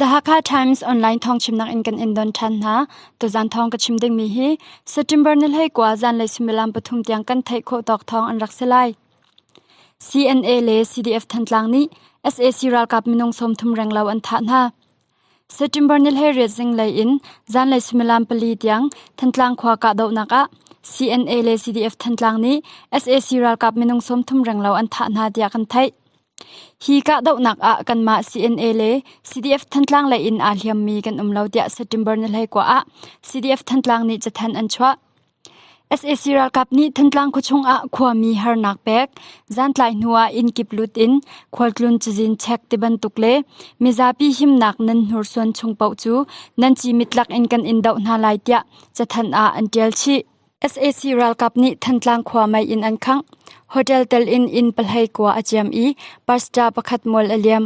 The Hakha Times online thawng chimnak in kan in don than hna. Tuzan thawng ka chim ding mi hi September ni hlei kwa zan le sumilam pathum tiang kan theih khawh tawk thawng an rak selai. CNA le CDF Thantlang nih SAC ralkap minung som thum renglo an tha hna. September ni hlei riat zinglei in zanlei suimilam pali tiang Thantlang khua kahdohnak ah CNA le CDF Thantlang nih sac ralkap minung sawmthum renglo an thah hna tiah kan theih. Hi kahdohnak ah kanmah CNA le CDF Thantlang lei in aa hliammi kan um lo tiah September ni hlei kua ah CDF Thantlang nih cathen an chuah. sac ralkap nih Thantlang khuachung ah khuami harnak pek, zantlai hnu ah innkip lut in khualtlun cazin chek tibantuk le mizapi himnak nan hnursuan chung paoh cu nan cimit lakin kan in doh hna lai tiah cathanh ah an ṭial chih. sac ralkap nih Thantlang khua mei in an khangh, hotel tel in inn pahlei kua a ciam i pastor pakhat mual a liam.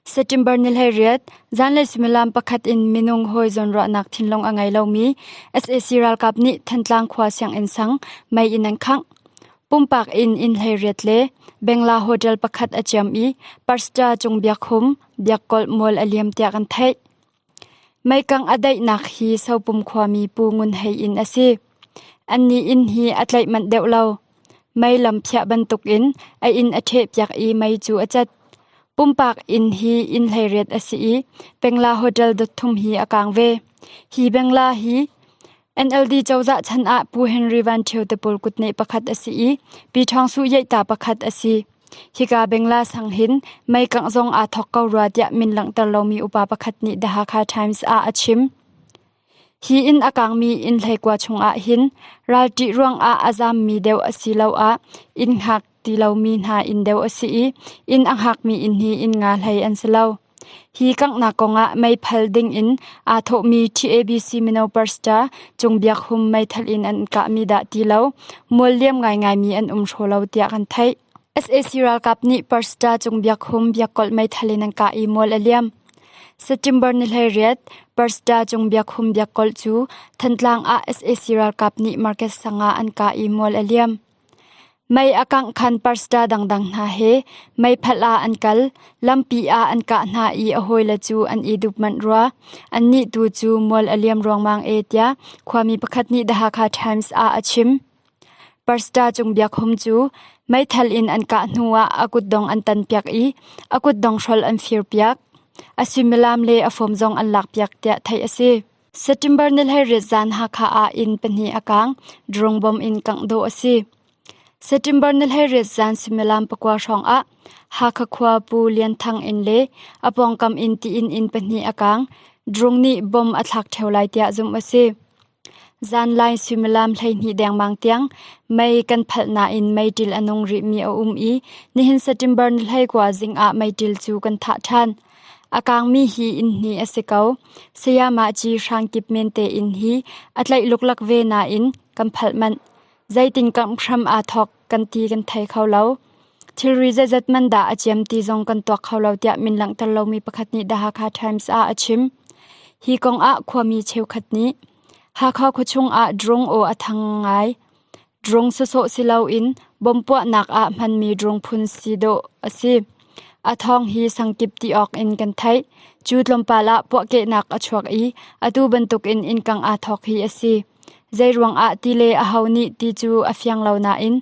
September ni hleiriat zanlei suimilam pakhat in minung hawi zawnruahnak thinlung a ngei lomi sac ralkap nih Thantlang khua sianginn sang mei in an khangh. Pumpak in inn hleiriat le bengla hotel pakhat a ciam i Parsta cung biakhum, biakkolh mual a liam tiah an theih. Meikang a daihnak hi Sopum khuami Pu Ngun Hei inn a si. Annih inn hi a tlaih manh deuh lo. Mei lam phiah bantukin a inn a ṭhehpiak i mei cu a cat. Pumpak inn hi inn hleiriat a si i Pengla Hotel dot thum hi a kaang ve. Hi Pengla hi NLD cozah chan ah Pu Henry Van Ṭhio Tapul kut neh pakhat a si i Pi Ṭhawng Su Yeihta pakhat a si. Hika bengla sang hin mei kangh zong aa thawk ko rua tiah min langhter lomi upa pakhat nih The Hakha Times ah a chim. Hi in a kangmi inn hleikua chungah hin ralṭih ruangah a zammi deuh asiloah inn hngak ti lomi hna inn deuh a si i inn a hngakmi inn hi inn nga hlei an si lo. Hi kanghnak kongah meithal dingin aa thawhmi TABC mino pastor Cung Biak Hum meithal in an kahmi dah ti lo mual liam ngaingaimi an um hraw lo tiah kan theih. sac ralkap nih pastor Cung Biak Hum biakkolh meithal in an kah i mual a liam. September ni hlei riat Pastor Cung Biak Hum biakkolh cu Thantlang ah sac ralkap nih market sangah an ka i mual a liam. Mei a kangkhan pastor dangdang hna he meiphat ah an kal, lampi ah an kah hna i a hawile cu an i dup manh rua. Annih tu cu mual a liam ruangmang e tiah khuami pakhat nih The Hakha Times ah a chim. Pastor Cung Biak Hum cu meithal in an kah hnuah a kutdong an tanpiak i a kutdong hrol an firpiak. A suimilam le a fawm zong an lakpiak tiah theih a si. September ni hleiriat zan Hakha ah inn pahnih a kaang, drone bom in kangh dawh a si. September ni hleiriat zan suimilam pakua hrawng ah Hakha khua Pu Lian Thang inn le a pawngkam inn tiin inn pahnih a kaang, drone nih bom a thlak ṭheo lai tiah zumh a si. Zanlai suimilam hleihnih dengmang tiang mei kan phalh nain meiṭil a nung rihmi a um i nihin September ni hlei kua zing ah meiṭil cu kan thah ṭhan. A kangmi hi inn hnih a si ko, Sayamah Ci hrang kip men tein hi a tlaihluklak ve nain kan phalh manh, zeitin kamh hram aa thawk kan ti kan thei kho lo. Thilri zeizat man dah a ciam ti zong kan tuak kho lo tiah min langhter lomi pakhat nih The Hakha Times ah a chim. Hi kong ah khuami cheukhat nih Hakha khuachung ah drone aw a thang ngai. Drung sawsawh si loin bom puahnak ah hmanmi drung phun si dawh a si. A thawng hi sangkip ti awk in kan theih. Cu tlawmpal ah puahkehnak a chuak i atu bantukin innkang aa thawk hi a si. Zeiruangah ti le aho nih ti cu a fiang lo nain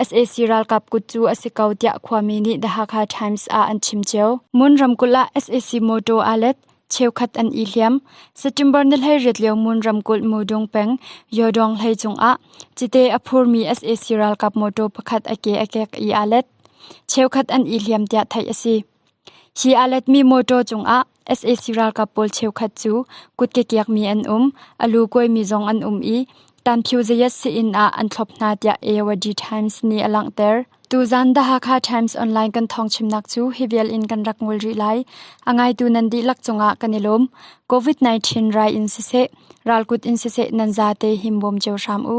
sac ralkap kut cu a si ko tiah khuami nih The Hakha Times ah an chim cio. Mun ramkulh ah sac motor aa let. cheukhat an i hliam. September ni hleiriat lio Mun ramkulh Mudung peng Yodong hlei cungah cite a phurmi sac ralkap motor pakhat a ke a kek i aa let. Cheukhat an i hliam tiah theih a si. Hi aa letmi motor cungah sac ralkap pawl cheukhat cu kut ke kiakmi an um, a lu kuaimi zong an um i Ṭanphiu zayasi inn ah an thlop hna tiah Ayawadi Times nih a langhter. Tuzan The Hakha Times online kan thawngchimnak cu hi vial in kan rak ngol rih lai. A ngaitu nan dihlak cungah kan i lawm. COVID-19 rai in siseh, ralkut in siseh nan zate him bawm cio hram u.